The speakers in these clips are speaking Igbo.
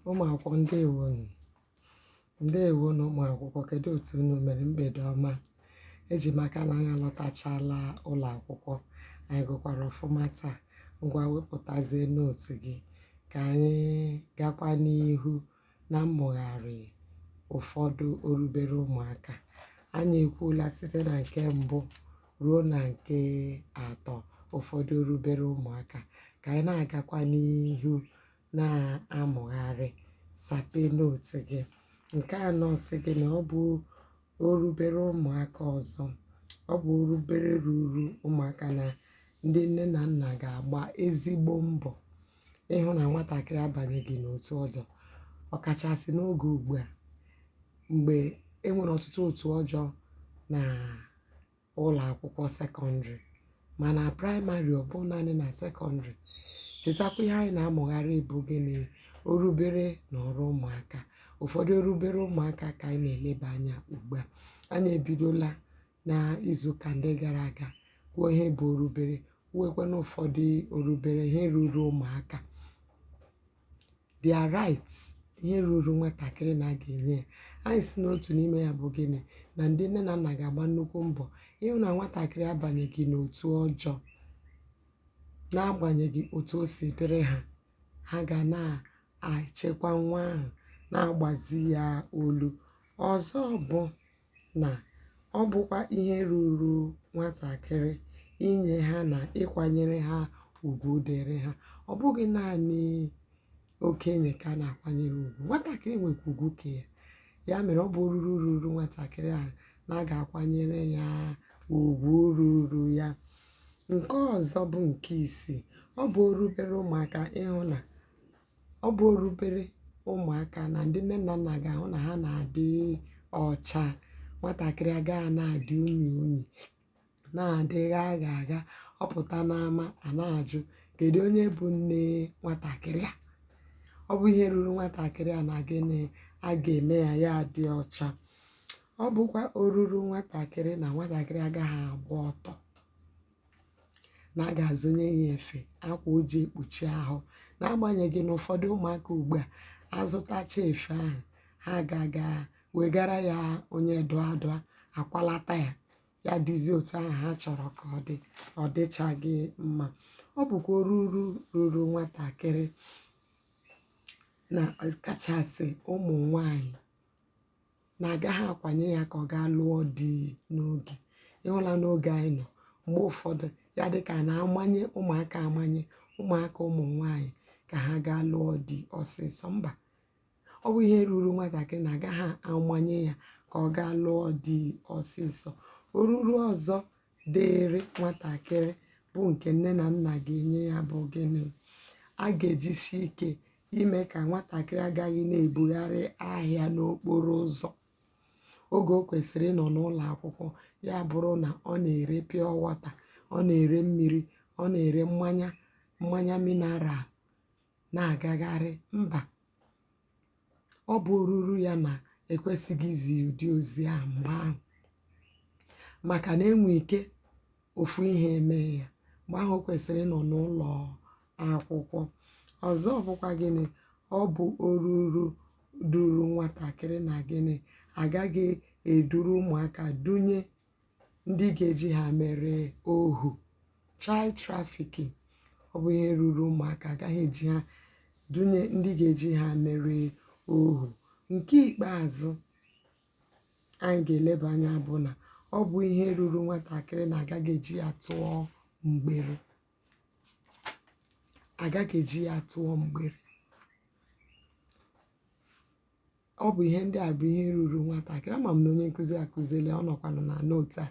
ụmụ akwụkwọ ndewonu ndewonu ụmụ akwụkwọ kedu otu unu mere mgbede ọma eji maka na anyị alọtachala ụlọ akwụkwọ anyị gụkwara ọfụma taa ngwa wepụtazie note gị ka anyị gakwa n'ihu na mmụgharị ụfọdụ orubere ụmụaka. Anyị ekwuola site na nke mbụ ruo na nke atọ ụfọdụ orubere ụmụaka. Ka anyị na-agakwa n'ihu na-amụgharị, sapee note gị. Nke anọ sị gị na ọ bụ orubere ụmụaka ọzọ. Ọ bụ orubere ruuru ụmụaka na ndị nne na nna ga-agba ezigbo mbọ ịhụ na nwatakịrị abanyeghị n'otu ọjọọ, ọkachasị n'oge ugbu a mgbe e nwere ọtụtụ otu ọjọọ na ụlọ akwụkwọ sekọndịrị ma na praịmarị ọ bụ naanị na sekọndịrị. Chetakwa ihe anyị na-amụgharị bụ gịnị? Orubere na ọrụ ụmụaka. Ụfọdụ orubere ụmụaka ka anyị na-eleba anya ugbu a. Anyị ebidola na izuụka ndị gara aga kwuo ihe bụ orubere kwuwekwanụ ụfọdụ orubere ihe ruru ụmụaka their rights ihe ruru nwatakịrị na a ga-enye ya anyị sị na otu n'ime ya bụ gịnị na ndị nne na nna ga-agba nnukwu mbọ ịhụ na nwatakịrị abanyeghị n'otu ọjọọ n'agbanyeghị otu o si dịrị ha ha ga na-achekwa nwa ahụ na-agbazi ya olu ọzọ bụ na ọ bụkwa ihe ruuru nwatakịrị inye ha na ịkwanyere ha ugwu dịịrị ha. Ọ bụghị naanị okenye ka a na-akwanyere ugwu, nwatakịrị nwekwa ugwu nke ya. Ya mere, ọ bụ oruru ruuru nwatakịrị ahụ na a ga-akwanyere ya ugwu ruuru ya. Nke ọzọ bụ nke isii. Ọ bụ orubere ụmụaka ịhụ na Ọ bụ orubere ụmụaka na ndị nne na nna ga-ahụ na ha na-adị ọcha. Nwatakịrị agaghị na-adị unyi unyi, na-adị gha gha gha. Ọ pụta n'ama, a na-ajụ, "Kedụ onye bụ nne nwatakịrị a?" Ọ bụ ihe ruru nwatakịrị a na gịnị? A ga-eme ya ya adị ọcha. Ọ bụkwa oruru nwatakịrị na nwatakịrị agaghị agba ọtọ. na a ga-azụnye ya efe akwa o ji ekpuchi ahụ n'agbanyeghị na ụfọdụ ụmụaka ugbu a azụtacha efe ahụ ha ga-aga wegara ya onye dụọ adụọ akwalata ya ya dịzie otu ahụ ha chọrọ ka ọ dị ọ dịchaghị mma ọ bụkwa oruru ruru nwatakịrị na kachasị ụmụ nwanyị na agaghị akwanye ya ka ọ gaa lụọ di n'oge ị hụla n'oge anyị nọ mgbe ụfọdụ ya dịka a na-amanye ụmụaka amanye ụmụaka ụmụ nwaanyị ka ha gaa lụọ di ọsịsọ mba ọ bụ ihe ruru nwatakịrị na agaghị amanye ya ka ọ gaa lụọ di ọsịsọ oruru ọzọ dịịrị nwatakịrị bụ nke nne na nna ga-enye ya bụ gịnị a ga-ejisi ike ime ka nwatakịrị agaghị na-ebugharị ahịa n'okporo ụzọ oge o kwesịrị ịnọ n'ụlọ akwụkwọ ya bụrụ na ọ na-ere pure water ọ na-ere mmiri ọ na-ere mmanya mmanya mineral na-agagharị mba ọ bụ oruru ya na ekwesịghị izi ụdị ozi ahụ mgbe ahụ maka na enwe ike ofu ihe mee ya mgbe ahụ o kwesịrị ịnọ n'ụlọ akwụkwọ ọzọ bụkwa gịnị ọ bụ oruru dụrụ nwatakịrị na gịnị agaghị eduru ụmụaka dunye ndị ga-eji ha mere ohu child trafficking ọ bụ ihe ruru ụmụaka agaghị eji ha dunye ndị ga-eji ha mere ohu nke ikpeazụ anyị ga-eleba anya bụ na ọ bụ ihe ruru nwatakịrị na agaghị eji ya tụọ mgbere agaghị eji ya tụọ mgbere ọ bụ ihe ndị a bụ ihe ruru nwatakịrị ama m na onye nkụzi akụzila ọ nọkwanụ na nootu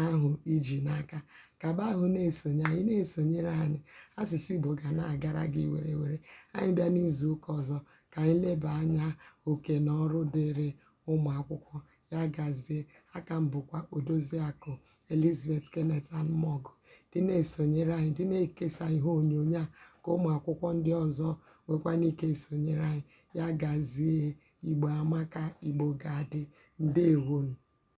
ahụ iji n'aka kaba ahụ na-esonye anyị na-esonyere anyị asụsụ Igbo ga na-agara gị werewere anyị bịa n'izu ụka ọzọ ka anyị leba anya oke na ọrụ dịịrị ụmụ akwụkwọ. Ya gazie. Aka m bụkwa Odoziakụ Elizabeth Kenneth Anụmọgụ. Dị na-esonyere anyị, dị na-ekesa ihe onyonyo a ka ụmụ akwụkwọ ndị ọzọ nwekwanụ ike esonyere anyị. Ya gazie. Igbo amaka, Igbo ga-adị. Ndeewonụ.